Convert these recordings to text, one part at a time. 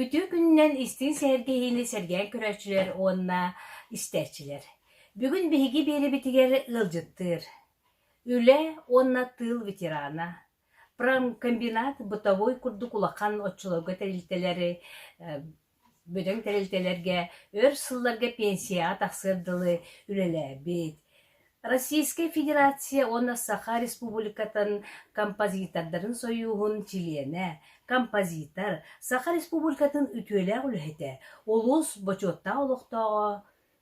Үтүө күнүнэн истиҥ сэһэргэһиини сэргээн көрөөччүлэр уонна истээччилэр! Бүгүн биһиги биэрэбитигэр ыалдьыттыыр, үлэ уонна тыыл ветерана, промкомбинат бытовой курдук улахан оччолорго тэрилтэлэри Бөдөҥ тэрилтэлэргэ өр сылларга пенсияҕа тахсыар дылы үлэлээбит, Российскай Федерация уонна Саха Республикатын композитордарын сойууһун чилиэнэ, композитор, Саха Республикатын үтүөлээх үлэһитэ, улуус бочуоттаах олохтооҕо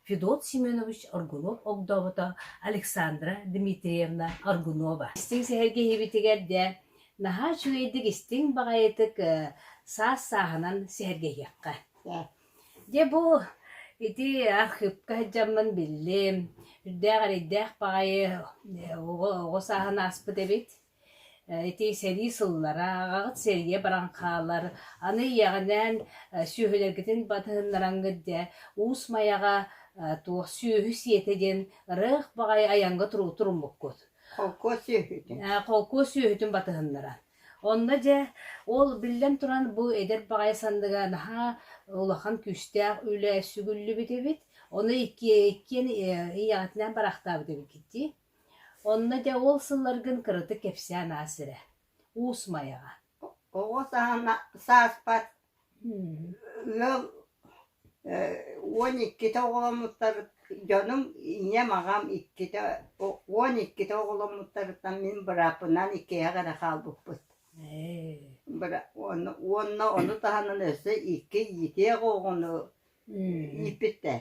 Федот Семенович Аргунов огдообото Александра Дмитриевна Аргунова. Истиҥ сэһэргэһиибитигэр дьэ наһаа үчүгэйдик истиҥ баҕайытык саас сааһынан сэһэргэһиэххэ. Дьэ бу ити архыыпка сылдьаммын биллим. Үрдээх эрэйдээх баҕайы оҕо оҕо сааһын ааспыт эбит. ити сэрии сыллара аҕаҕыт сэрийэ баран хаалар аны ийэҕинээн сүөһүлэргитин батыһыннараҥҥыт дьэ уус майаҕа туох сүөһү сиэтэ диэн ырыах баҕайы айаҥҥа туруммуккут холкуос сүөһүтүн холкуос сүөһүтүн батыһыннаран онно дьэ ол биллэн туран бу эдэр баҕайы санныга наһаа улахан күүстээх үлэ сүгүллүбүт эбит ону иккиэн ийэҕитинээн бараахтаабыт эбиккит дии Онно дьэ ол сылларгын кыратык кэпсээн аас эрэ. Уус Майаҕа. Оҕо саана сааспат ыал уон иккитэ оҕоломмуттар дьонум, ийэм, аҕам иккитэ уон иккитэ оҕоломмуттарыттан мин бырааппынан иккиһэх эрэ хаалбыппыт. Быра уонна уонна ону таһынан өссө икки итиэх оҕону ииппиттэр.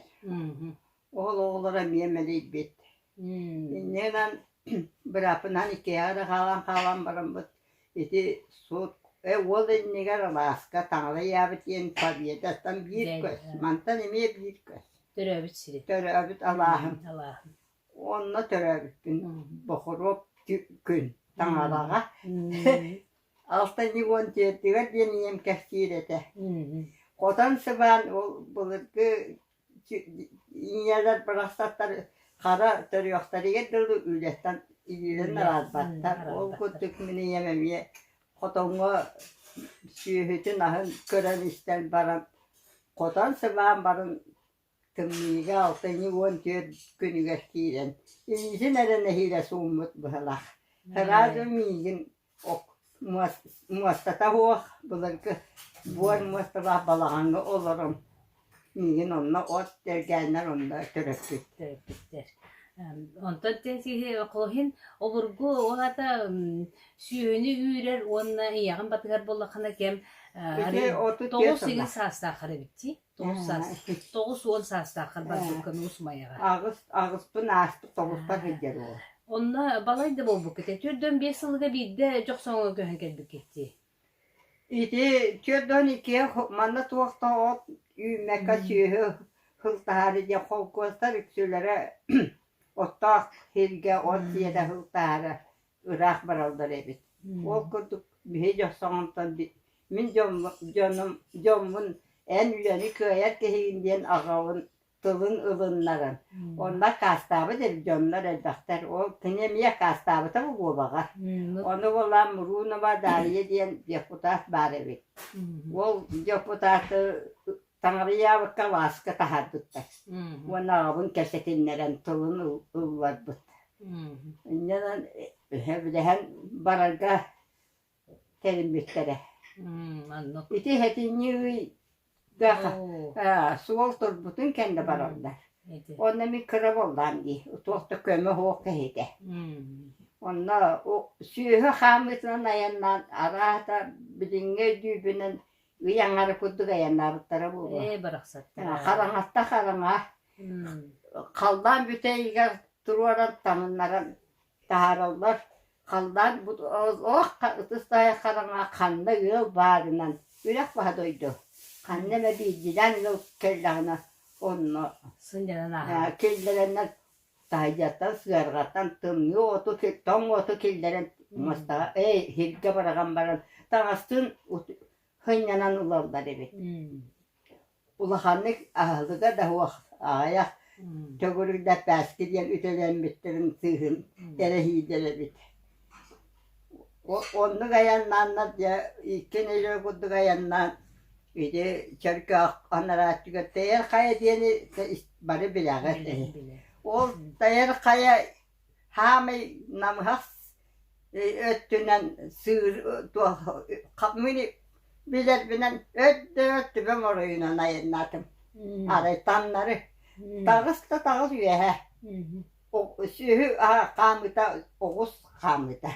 Уол оҕолоро эмиэ мэлийбит. Иннинэн бырааппынан иккиһэ эрэ хаалан хаалан бараммыт ити суут э уол иннигэр алааска таҥара иьээбит диэн победаттан биир көс мантан эмиэ биир көс төрөөбүт сири төрөөбүт алааһын алааһын онно төрөөбүппүн бохоруоп күн таҥараҕа алтынньы уон түөртүгэр диэн ийэм кэпсиир этэ хотон сыбаан ол былыргы Ийэлэр барахсаттар хара төрүөхтэригэр дылы үлэттэн иирэн араарбаттар. Ол курдук мин ийэм эмиэ хотоҥҥо сүөһүтүн аһын көрөн-истэн баран хотон сыбаан барын тымныыга алтынньы уон түөрт күнүгэр киирэн илиитин эрэ нэһиилэ сууммут быһылаах. Ыраазы миигин муостата суох былыргы буор муосталаах балаҕаҥҥа олорон миигин онно от тэлгээннэр онно төрөппүттэр онтон колхин обургу ол аата сүөһүнү үүрэр уонна ийэҕин батыһар буоллаххына кэм толус сигил саастааххар эбит дии тоҕус саас тоҕус уон саастаах харбарбыккын уусмайаҕа аҕыс аҕыспын ааспыт тоҕуспар сылдьар уол онно балай да буолбуккут түөрт уон биэс сылга биирдэ дьохсоҥҥо көһөн кэлбиккиттии ити түөрт уон икки манна туох да от үүммэккэ сүөһү сылтаһаары диэн холкуостар үксүлэрэ оттоох сиргэ от сиэтэ сылтаһара ыраах бараллар эбит. Ол курдук биһи дьохсоҕонтон мин дьоном дьоммун эн үлэни кыайар киһигин диэн аҕабын тылын ылыннаран онно акаастаабыт эбит дьоннор элбэхтэр ол кини эмиэ акаастаабыта бу буобаҕар ону булан Мурунова Дария диэн депутат баар эбит ол депутаты Таҕарыйаабыкка вааска таһаарбыттар уонна аҕабын кэпсэтиннэрэн тылын ылларбыт. Инньэнэн өһөбүлэһэн барарга тэриммиттэрэ. Ити ыйга суол турбутун кэннэ бараллар. Онно мин кыра буоллаам дии. Туох да көмө суох киһитэ. Онно сүөһү хаамыытынан айаннаан араата билиҥҥи өйдүүбүнэн ый аҥара курдук айаннаабыттара буолуо. Ээ, барахсаттар. Хараҥата хараҥа. Халлаан бүтэйигэр туруоран таҥыннаран таһаараллар. Халлаан ох ытыс таһа хараҥа ханна ыал баарынан үрэх баһа дойду ханна эмэ биирдиилээн ыал кэллэҕинэ онно сынньанан ааһар. киллэрэннэр таайдартан сыарҕаттан тымныы уоту тоҥ уоту киллэрэн мастаҕа эй сиргэ быраҕан баран таҥастыын сынньанан ылаллар эбит улаханнык аһылыга да суох аҕыйах төгүрүк да этпээски диэн үтэлэммиттэрин сыыһын эрэһиидэр эбит Оннук айаннааннар дьэ икки нэдиэлэ курдук айаннаан ити чөркөөх анарааччыгар Тайар Хайа диэни бары билэҕит үһү. Ол Тайар Хайа хаамай намыһах өттүнэн сыыр мини билэрбинэн өттө түбэм оройунан айаннаатым. Арай таҥнары таҕыс да таҕыс үөһэ сүөһү хаамыта оҕус хаамыта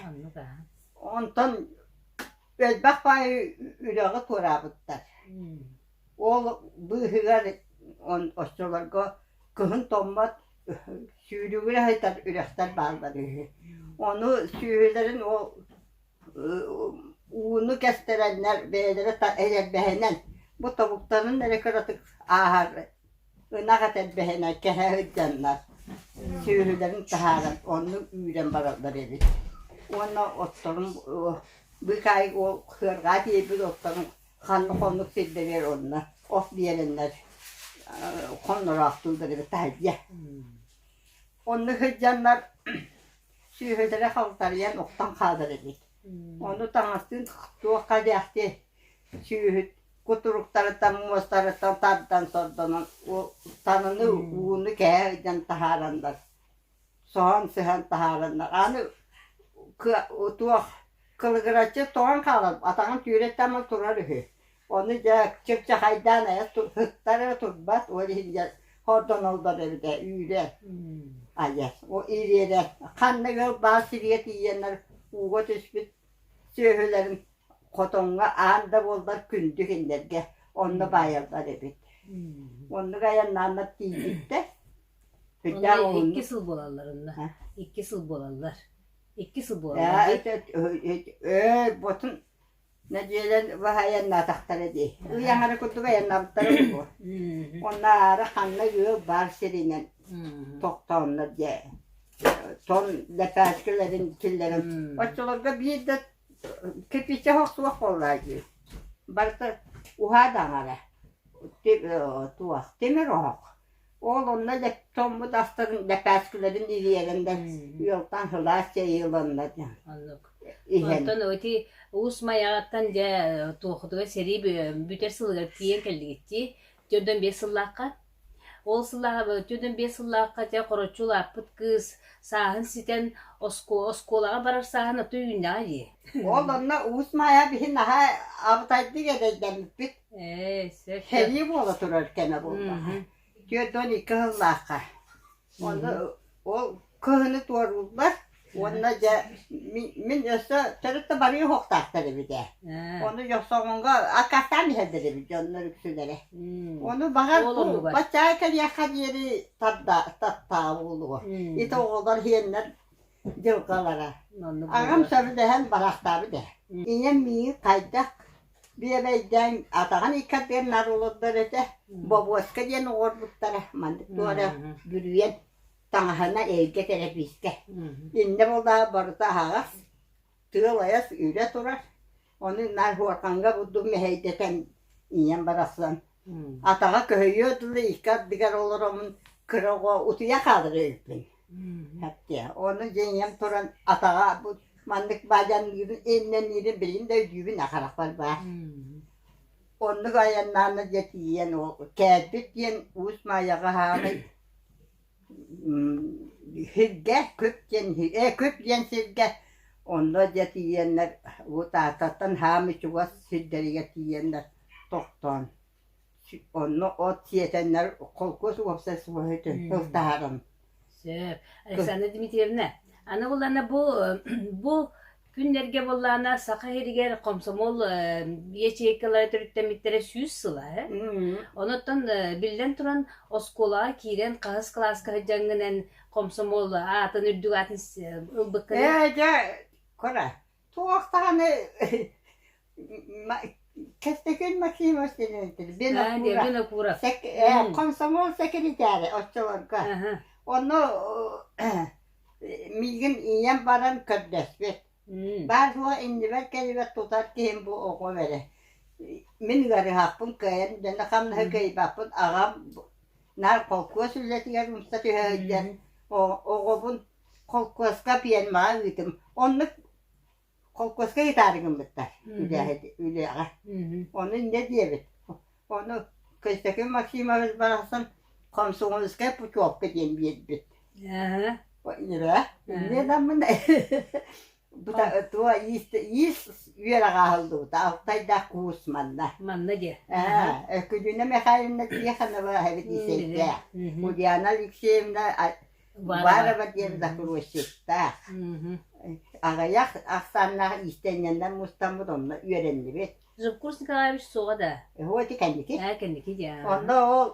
онтон элбэх баай үлэҕэ туораабыттар ол быыһыгар оччолорго кыһын томмот сүүрүгүрэ сытар үрэхтэр бааллар үһү ону сүөһүлэрин ол ууну кэстэрэннэр бэйэлэрэ элэрбэһинэн бу тобуктарын эрэ кыратык ааһар ынах эт элбэһинэн кэһэ сылдьаннар сүөһүлэрин таһааран онно үүрэн бараллар эбит уонна отторун быыкаай ол сыарҕаа тиэйбит отторун ханнык оннук сирдэригэр онно от биэрэннэр хоннороохтууллар эбит таһырдьа онно сылдьаннар сүөһүлэрэ халтарыйан уктан хаалар эбит. Ону таҥастыын туохха диэхтиэй, сүөһүт кутуруктарыттан, муостарыттан тардан сордонон таныны ууну кэһэ ыйдан таһаараннар, соһон сыһан таһаараннар, аны туох кылыгыраччы тоҥон хаалар, атаҕын түүрэттэн турар үһү. Ону дьэ чыпчахайдаан айа сыттар эрэ турбат, ол иһин дьэ хордоноллор эбитэ үүрэ айар. О ириэрэ ханна ыал баар сиргэ тиийэннэр ууга түспүт сүөһүлэрин хотоҥҥо аан да буоллар күндү кинилэргэ онно баайаллар эбит. Оннук айаннааннар тиийбиттэр. Онно икки сыл буолалларынна. Икки сыл буолаллар. Икки сыл буолаллар. Өө ботун Нэдиэлэн баһа айаннаатахтара дии. Ый аҥара курдук айаннаабыттара буолуо. Оннаары ханна ыал баар сиринэн тохтооннор дьэ тон лэпээскилэрин киллэрэн оччолорго биир да кирпиччэ оһох суох буоллаа дии. Барыта уһаа да аҥара. Тимир оһох. Ол онно дьоммут астарын лэпээскилэрин илийэлэннэр ыалтан сылаас чэй ыланна иһэн. Оттон ити уус Майаҕаттан дьэ туохутугар сэрии бүтэр сылыгар тиийэн кэллигиттии төрдөн биэс сыллаахха ол сыллааҕа төрдөн биэс сыллаахха дьэ хороччу улааппыт кыыс сааһын ситэн оскуолаҕа барар сааһын оттон үүннэҕэ дии. Ол онно уус Майа биһи наһаа абытайдык эдэйдэммиппит Сэрии буола турар кэмэ буоллаҕа. Түөрт уон икки сыллаахха. Уонна ол кыһыны туорууллар уонна дьэ мин өссө төрүт да барыы уһуктаахтар эбит ээ. Ону Йосоҕонго аккаастаан иһэллэр эбит дьоннор үксүлэрэ. Ону баҕар баччаа кэлиэххэ диэри тарда таабыллуо. Ити оҕолор иһэннэр дьылҕалара. Аҕам сөбүлэһэн бараахтаабыт ээ. Ийэм миигин хайдах Биэлэйдээн атаҕын иккардыгар наар олордор этэ, бобуоска диэн оҕорбуттара, маннык туора бүрүйэн таҥаһына эйгэ тэлэбиискэ. Иннэ булдаҕа барыта аһаҕас, тыал айас үрэ турар, ону наар Хуарханга бурдук мэһэйдэтэн ийэм барахсан Атаҕа көһүйүө дылы икки ардыгар олороммун кыра оҕо утуйа хаалара үһүппүн. Эттэ ону дьиҥиэм туран атаҕа бу маннык баадьанныырын иннэниирин билигин да өйдүүбүн ахарахпар баар. Оннук айаннаана дьэ тиийэн ол кээдбит диэн Уус Маайаҕа хаамый Сиргэ күп диэн ээ күп диэн сиргэ онно дьэ тиийэннэр Тааттаттан хаамыы чугас сирдэригэр тиийэннэр тохтоон онно от сиэтэннэр холкуос уопсастыбаннай ылтаһарын Сөп. Александра Дмитриевна, аны булана бу бу Күннэргэ буоллаҕына Саха сиригэр комсомол ячейкалара төрүттэммиттэрэ сүүс сыла. э? Онуттан э, биллэн туран оскуолаҕа киирэн хаһыс кылааска сылдьаҥҥынан комсомол аатын үрдүк аатын э, ылбыккын. Ээ, дьэ, Кора, туох даҕаны Кэстэкин Максимов Винокуров комсомол секретаря оччолорго онно миигин ийэм баран көрдөспүт баар-суох иннибэр кэлибэт тутар киһим бу оҕо бэрэ мин ыарыһахпын кыайан дэнэ хамнаһы кыайбаппын аҕам наар холкуос үлэтигэр умса түһэ сылдьар оҕобун холкуоска пиэрмэҕэ ыытым оннук холкуоска ытаарыгыммыттар үлэҕэ ону инньэ диэбит ону Константин Максимович барахсан комсомольскай путевка диэн биэрбит туо иис үөрэҕэ аһыллыбыта алтайдаах куус манна манна диэ күнүнэ михайловна тихонова эбит исэйдээх ульяна алексеевна Уваарова диэн закройщиктаах. Аҕыйах ахсааннаах иистэнньэннэр мустаммыт онно үөрэннибит. Жубкурс Николаевич суоҕа да? Хоть и кэнники. Ээ, кэнники диэн. Онно ол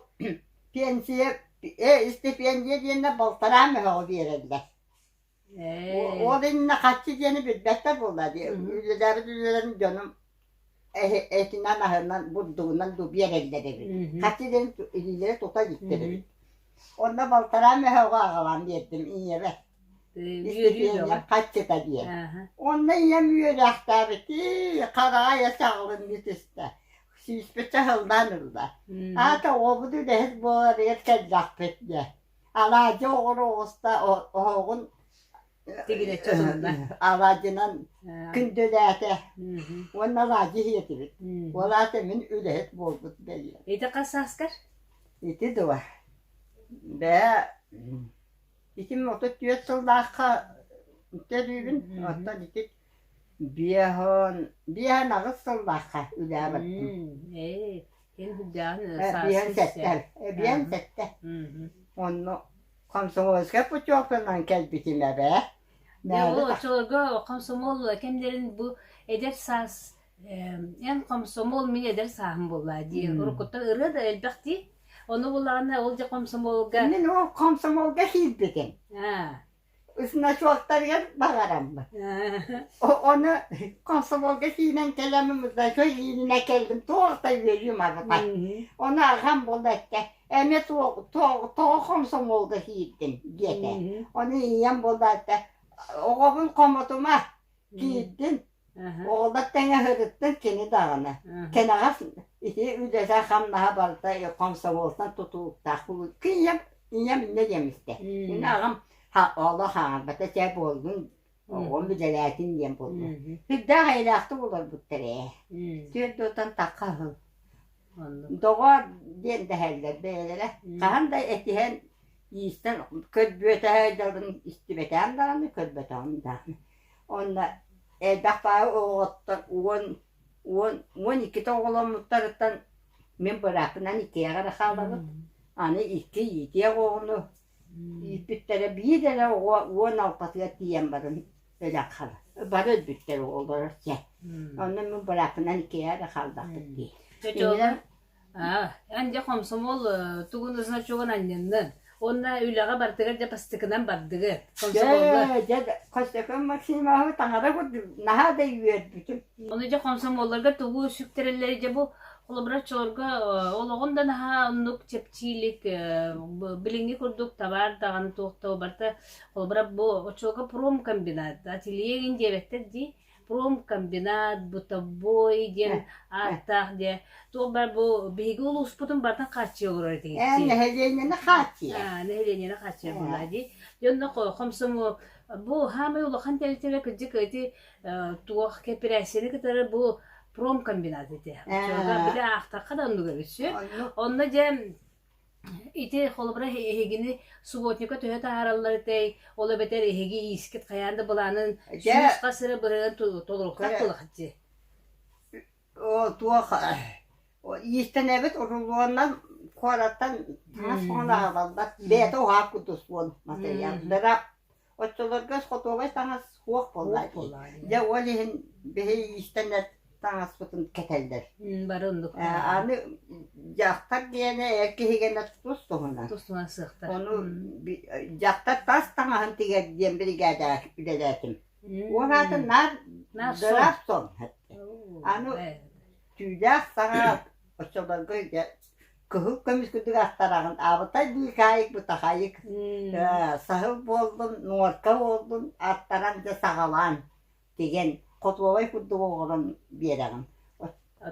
пенсия, э, истипиэндийэ диэннэ балтараа мөһөҕө биэрэллэр. Ол иннинэ хаччы диэни билбэттэр буолла. Үлэлээбит үлэлэрин дьонум этинэн-аһынан, бурдугунан дуу биэрэллэр эбит. Хаччы диэн илиилэрэ тута иликтэр эбит. Онно балтараа мөһөҕө аҕалан биэрдим ийэбэр. Үөрүү хаччыта диэн. Онно ийэм үөрээхтээбити, хараҕа саҕылыныы түстэ. Сүүспүт саһыллаан ылла. Аата оҕобут үлэһит буоларыгар кэллэхпит диэ. Алаадьы оҕор оҕуста оһоҕун тигинэччи уһунна алаадьынан күндүлээтэ уонна алаадьы иһиэтибит ол аата мин үлэһит буолбут бэйиэм ити сааскар ити дуо бээ итим отут түөрт сыллаахха төлүүбүн оттон ити Биэһон, биэһэн аҕыс сыллаахха үлээбэппин. М, ээ, эн былдьааһын ы, Э, биэһэн сааскы сэттэ. истэ. Э, биэһэн Аха. сэттэ. Мгм. Онно комсомольскай путевканан кэлбитим эбээ. Мээнэ Yoo, тах оччолорго комсомол кэмдэрин бу эдэр саас эм, эн комсомол мин эдэр сааһым буолла дии. М. Уруккуттан ырыа да элбэх дии. Ону булаҕына ол дьэ комсомолга Иннин ол комсомолга киирбитим. аа значоктарыгар баҕараммыт. Ону комсомолга киирэн кэлэмим, кэлиининэ кэллим, тоҕо үөрүүм арҕай. Ону аҕам буолла этэ, эми тоҕо комсомолга киирдиҥ диэтэ. Ону ийэм буолла этэ, оҕобун хомотума, киирдин, Оҕолор тэҥэһырыттын кини даҕаны. Кэнэҕэс ити үлэтэ хамнаһа барыта комсомолтан тутулуктаах буолуо. Ийэм ийэм иннэ диэм истэ. Иннэ аҕам олох хаҥарбата чэ буолгун оҕом үлэлээтин диэн буолла. Сүрдээх эйэлээхтик олорбуттар ээ. Түөрт дуотан тахха аһыл. Доҕоор диэн дэһэллэр бэйэлэрэ. Хаһан да этиһэн иистэн көрбүөтэһэ дьалын истибэтэҕим даҕаны, көрбөтөҕүм даҕаны. Уонна элбэхтээҕи оҕоттор уон уон уон иккитэ оҕоломмуттарыттан мин быраакпынан иккиэҕэ эрэ хаалабыт. Аны икки иитиэх оҕону ииппиттэрэ биир эрэ оҕо уон алтатыгар тиийэн баран өлөн хара бары өлбүттэр оҕолоро чэ. Онно мин быраакпынан иккиэҕэ эрэ хаалбаппыт дии. Чочуолла Аа, эн дьэ хомсомол э, тугун значогун анньыннын. Уонна үлэҕэ барытыгар дьэ бастыкынан бардыгыт. Комсомолга. Дьэ, дьэ, Костяков Максимовы таҥара курдук наһаа да үөрбүтүм. Ону дьэ хомсомоллорго тугу сүктэрэллэрий дьэ бу холобураччыларга э, олоҕун да наһаа оннук чэпчиилик э, б- билиҥҥи курдук табаар даҕаны туох да барыта холобура бу очуока промкомбинат ателье гин диэбэттэр дии Промкомбинат, Бытовой диэн ааттаах диэн туох баар бу биһиги улууспутун барытын хааччыйа олорор этиҥ Эн нэһилиэнньэни хааччыйар. Аа, нэһилиэнньэни хааччыйар буолаа дии. Дьонно хомсомуол бу хаамай улахан тэрилтэлэр кырдьык ити туох кэпирээссийэни кытары бу промкомбинат ити. Оччолорго били аахтахха да оннук эбит сү. Онно дьэ Ити холобура эһигини субботника төһө таһаараллар этэй, ол эбэтэр эһиги иискит хайаан да былаанын Дьэ, сүүс хас эрэ бырыһыан толорукка көрө толох дии. о, туох иистэнэбит урулуоннан куораттан таҥас маҥан аһабаллар, бэйэтэ уһаак кутус буол матырыйааллара Оччолорго хотуобай таҥас суох буоллаҕа Дьэ ол иһин биһи иистэнэт таҥаспытын кэтэллэр. Бары оннук. Аны дьахтар диэни эр киһигэнэ тус туһунан. Тус туһунан сыахтар. Ону дьахтар тас таҥаһын тигэр диэн биригээдэҕэ үлэлээтим. Ол аатын наар Графсон. Аны түүлээх саҕа оччолорго кыһыл көмүс күдүрэхтээҕин аабытай быыкаайык бытахайык э, саһыл буоллун нуорка буоллун аттаран дьэ саҕалаан тигэн хотуобай курдук оҕолон биэрэҕин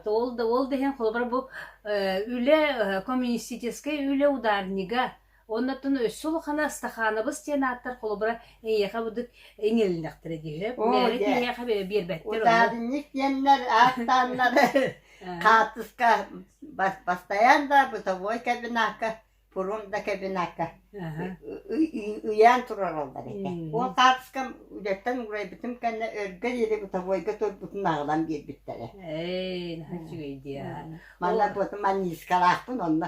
то ол да ол дэһэн холобура бу үлэ коммунистическай үлэ ударнига Оннуттан өссө улахана стаханабыс диэн ааттар холобура эйиэхэ быдык иҥэлинэхтэрэ диэһэ. Оо, Мээрэ дьэ, киһиэхэ биэрбэттэр ону. утаабынньык диэннэр ааттааннары хаартыска бас бастайан да бытовой кабинакка пурун да кабинакка ыйаан турараллар этэ. Ол хаартыска үлэттэн уурайбытым кэннэ өргө диэри бытовойга турбутун аҕалан биэрбиттэрэ. Эй, наһаа үчүгэй диэ. Манна бу маннискалаахпын онно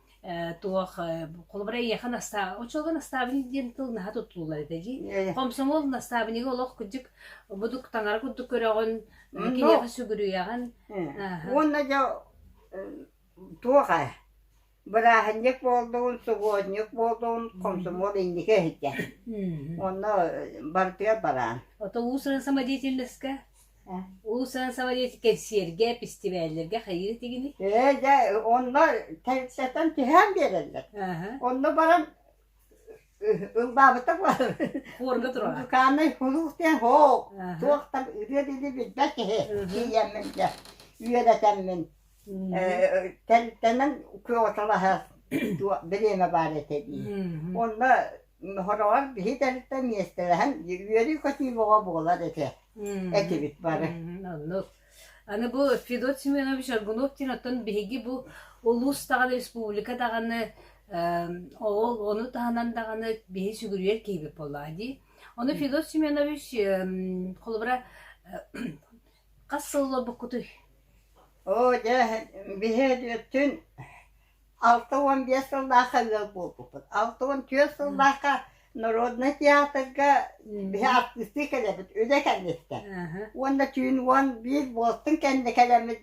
э, туох э, холобура эйиэхэ настаа очолго настаабын диэн тыл наһаа туттуллар этэ дии хомсомол настаабыныга олох куддук будук таҥара курдук көрөҕүн киниэхэ сүгүрүйэҕин уонна дьэ туох э, бырааһынньык буолдун сугуонньук буолдун хомсомол инники иһитэ онно бартыгар бараан ото уус самодеятельностька Улуус саҥа кэнсиэргэ, пистибээллэргэ хайыы тигини? Ээ, дьэ, онно тэрилтэтэн түһээн биэрэллэр. Онно баран ылбаабыта буолар. Хуорга турара. Музыкальный кулууп диэн хоо, туох да ырыа дили билбэт киһи. Тиийэммин дьэ, үөрэтэммин Э, тэннэн куоталаһа туо бириэмэ баар этэ дии. Онно хороҕор биһи тэрилтэ миэстэлэһэн үөрүү көтүү боҕо буолар этэ этибит бары. Оннук. Аны бу Федот Семенович Аргунов диэн оттон биһиги бу улуус даҕаны республика даҕаны ол ону таһынан даҕаны биһи сүгүрүйэр киһибит буоллаа дии. Ону Федот Семенович холобура Хас сыл олорбуккутуй? Оо, дьэ, биһиэттин алта уон биэс сыллаахха ыал буолбуппут. Алта уон түөрт сыллаахха Народнай театрга биһи артыстыы кэлэбит, үлэ кэнниттэн. Аһа. Уонна түүн уон биир буолтун кэннэ кэлэммит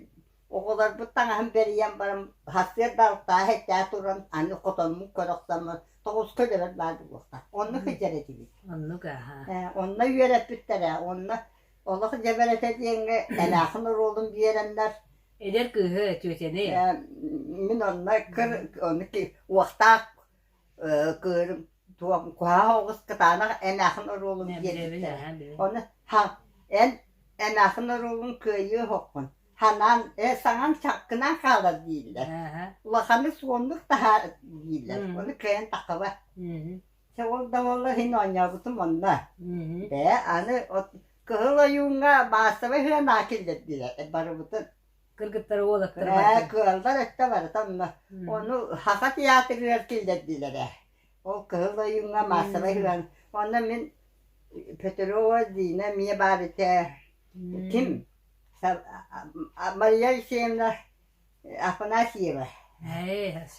оҕолорбут таҥаһын бэрийэн баран сарсыарда алтааһы этээ туран аны хотонмун көрө охсоммун тоҕуска өлөрөр баар буолуохтаах. Онно сылдьар этибит. Оннук аһа. Э, онно үөрэппиттэрэ, онно Олох дьэбэр этэ диэҥҥэ Элээхин оруолун биэрэннэр Эдэр кыыһы, тетяны. Э, мин онно кыр ону ки- уохтаах э, кыырым туох куһаах оҕус кытаанах Энээхин оруолун Э, биэрбиттэрэ. Билэбин, аһаа, билэбин. Ону ха эн Энээхин оруолун кыайыы оһоххун. Ханаан э саҥам чаккынаан хаалар дииллэр. Аха. Улаханы суоннук таһаар дииллэр. Мм. Ону кыайан тахаба. Мгм. Чэ ол да буолла иһин оонньообутум онно. Мгм. Бээ аны от Кыһыл Ойууҥҥа маассабай сыанаа киллэрдилэр барыбытын. Кыргыттары уолаттары Ээ барытын. кыаллар өттө барыта онно. Мгм. Ону Саха театрыгар киллэрдилэр ээ. Ол Кыһыл Ойууҥҥа маассабай Мгм. сыана. Онно мин Петрова Дина эмиэ баар этэ. Ким? Мм. Сар- а- а- Мария Алексеевна Афанасьева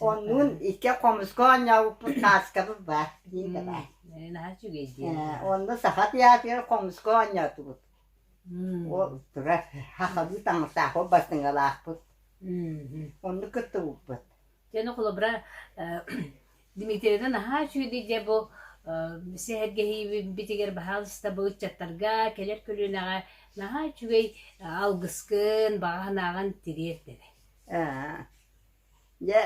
оннун икки хомуска оонньообуппут Каскабов баар диэни баар онно саха театрыгар хомуска оонньоотубут ол турар хахалыы таҥастаах ол бастыҥалаахпыт онну кыттыбыппыт Дмитрийаны наһаа үчүгэй дьэ бу сэһэргэһиибитигэр баһаалыста бу ыччаттарга кэлэр көлүөнэҕэ наһаа үчүгэй алгыскын, баҕа санааҕын тириэрдэрэ. Дьэ,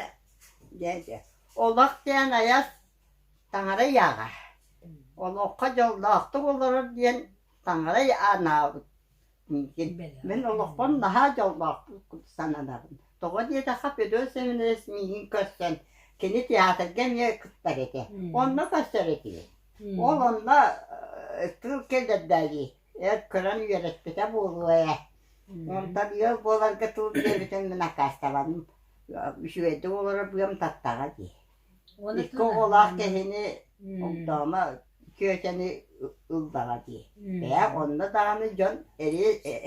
дьэ, дьэ. Олох диэн айар таҥара ыйааҕа. Олоххо дьоллоохтук олорор диэн таҥара анаабыт Мин олохпун наһаа дьоллоохтук сананабын. Тоҕо диэтэххэ, Федор Семенович миигин көрсөн, кини театрга эмиэ кыттар этэ. Онно көрсөр этибит. Ол онно э, тыл кэлэрдээйи эр көрөн үөрэппитэ буолуо ээ. Онтон ыал буоларга тыл диэбитин мин аккаастабаным. Үчүгэйдик олорор быам таттаҕа дии. Икки оҕолоох киһини огдоомо Киөчэни ыллаҕа дии. Бээ, онно даҕаны дьон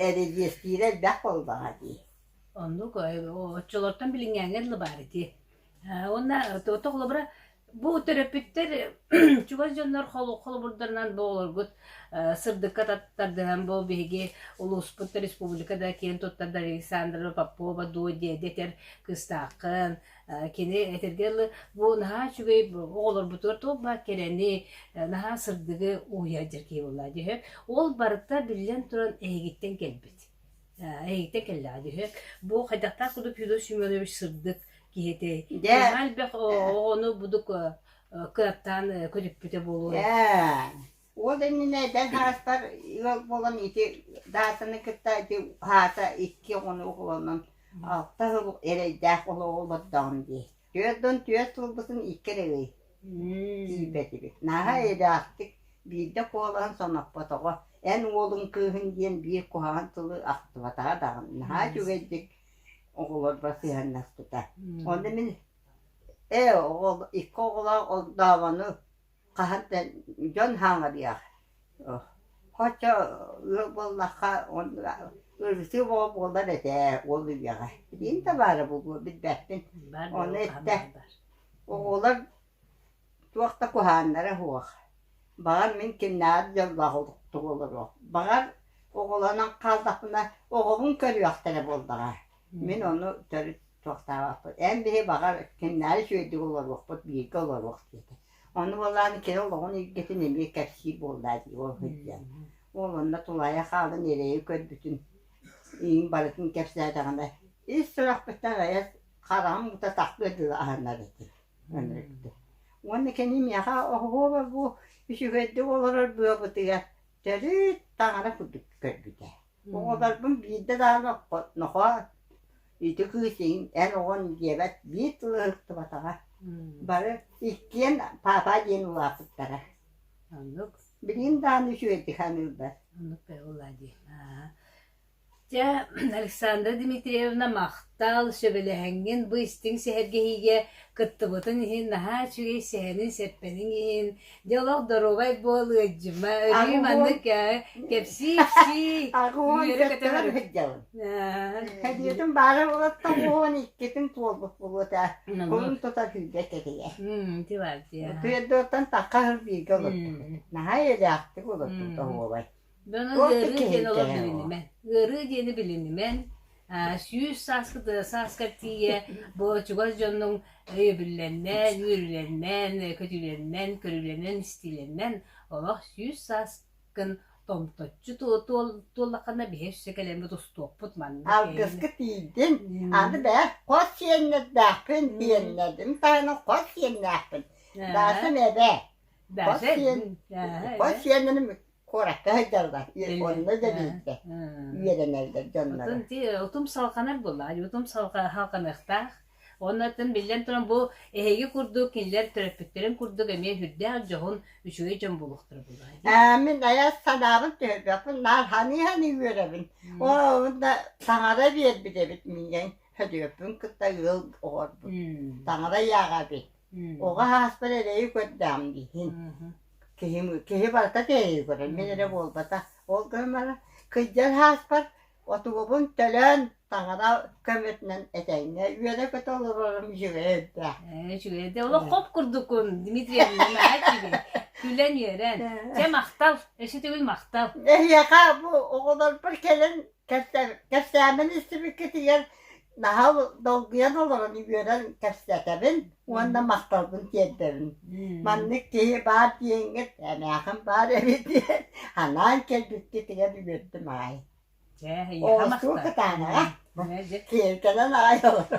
эридиэстиирэ элбэх буоллаҕа дии. Оннук оччолортон билиҥҥээҥҥэ дылы баар ити. Уонна тоҕо холобура бу төрөппүттэр чугас дьоннор холобурдарынан бу оҕолоргут сырдыкка тардыһан бу биһиги улууспут республика да киэн туттар Александра Попова дуо диэдэтэр кыыстааххын Кини этэргэ дылы, бу наһаа үчүгэй оҕолорбутугар туох баар кэрэни, наһаа сырдыгы уһуйар дьэркии буолла дьүһү. Ол барыта биллэн туран эһигиттэн кэлбит. Эһигиттэн кэллэҕэ дьүһү. Бу хайдахтаах кудук Федор Семенович сырдык киһи этэй. Наһаа элбэх оҕону будук кынаттаан көтүппүтэ буолуо. Уол иннинэ эдэр хараспар ыал буолан ити Даатаны кытта ити аата икки оҕону оҕолонон алта сыл эрэйдээх олоҕу олордоҕум дии. Түөрт уон түөрт сылбытын икки эрэ ый тиийбэтибит. Наһаа эрэхтик биирдэ куолаһын соноппотоҕо. Эн уолуҥ кыыһын диэн биир куһаҕан тылы ахтыбатаҕа даҕаны наһаа үчүгэйдик оҕолорго сыһыаннаспыта. Ону мин ээ оҕо икки оҕолоох ордооҕону хаһан да дьон хаҥадыах хочо ыал буоллахха ырысыы буолар этэ ол үйэҕэ билигин табаара буолуо билбэппин ону эттэ оҕолор туох да куһааннара суох баҕар мин кимнээҕэр дьоллоох олохтук олоруох баҕар оҕолонон хааллахпына оҕоҕун көрүөхтэрэ буоллаҕа Мин ону төрүт туохтаабаппыт эн били баҕар кинилэри үчүгэйдик олоруохпут бииргэ олоруох диэтэ ону буоллаан кини олоҕун эйгэтин эмиэ кэпсиир буоллаа дии ол сылдьан уол онно тулаайах хаалан эрэйи көрбүтүн иин барытын кэпсээтэҕинэ ис сүрэхпиттэн айас хараҕым ута тахтыа дылы аһынар этим ынырыктыы уонна кини миэхэ оһуоба бу үчүгэйдик олорор быабытыгар төрүт таҥара курдук көрбүтэ Оҕолорбун биирдэ даҕаны нохоо ити кыыс эн оҕон диэбэт биир тылы ылыктыбатаҕа бары иккиэн папа диэн улааппыттара оннук билигин даҕаны үчүгэйдик саныыллар оннук улаа дии дьэ Александра Дмитриевна махтал сөбүлэһиҥҥин бу истиҥ сэһэргэһиигэ кыттыбытын иһин наһаа үчүгэй сэһэниҥ сэппэниҥ иһин Дьэ олох доруобай буол, ыадьыма, өрүү маннык кэпсии-ипсии үөрэ көтөҕөр. Эбиэтин баара булаттан уон иккитин туолбут булуот ээ. Кулун тута күүргэ кэтийэ. Тыардыттан такка бииргэ олорбут. Наһаа элээхтик олорбут оһуобай. Туохтан кэһиилэһэн ол? Ыарыы диэни билинимэн, сүүс сааскы тыа сааскар тиийэ бу чугас дьоннуҥ өйөбүллэннэн, үөрүүлэннэн, көтүүлэннэн, көрүүлэнэн-истиилэннэн олох сүүс сааскын томточчу туоллаххына биһи өссө кэлэн тустуохпут маннык Алгыска тиийдим. Аны бээ, хос сиэннэрдээхпин, тиэннэдим таһынан хос сиэннээхпин. Даасым эбээ. Хос сиэн, хос сиэним куоракка сылдьаллар япоҥҥа да биирдэ үөрэнэллэр дьоннору. Атын тиэ утум салҕанар буоллаҕа, утум салҕаныахтаах. Онно атын биллэн туран бу эһиги курдук кинилэр төрөппүттэрин курдук эмиэ үрдээх дьоһун үчүгэй дьон буолуохтара буоллаҕа. мин айас санаабын түһэрбэппин наар ханыы-ханыы үөрэбин. Оо, онно таҥара биэрбит эбит миигин. Хөдүөппүн кытта ыал оҕорбут. Таҥара ааҕа эбит. Оҕо ааспар эрэйи көрдөөх дииһин. Киһим киһи барыта кэрэйи көрөр, мин эрэ буолбатах. Ол гынан баран кыдьар ааспар отугубун төлөөн таҥара көмөтүнэн этэҥҥэ үөрэ-көтө олорорум үчүгэй өйдөөх. Ээ үчүгэй да олох хоп курдукун Дмитриевна наһаа үчүгэй. Күлэн-үөрэн. Дьэ махтал, өсүтүгүн махтал. Эһиэхэ бу оҕолорбор кэлэн кэпсээмэни истибиккитигэр наһал долгуйан олорон үөрэн кэпсэтэбин уонна махталбын тиэрдэбин маннык киһи баар диэҥҥит эмээхин баар эбит диэн анаан кэлбиккитигэр үөрдүм аайы оостуу кытаанаҕа киэлкэнэн аайы олоро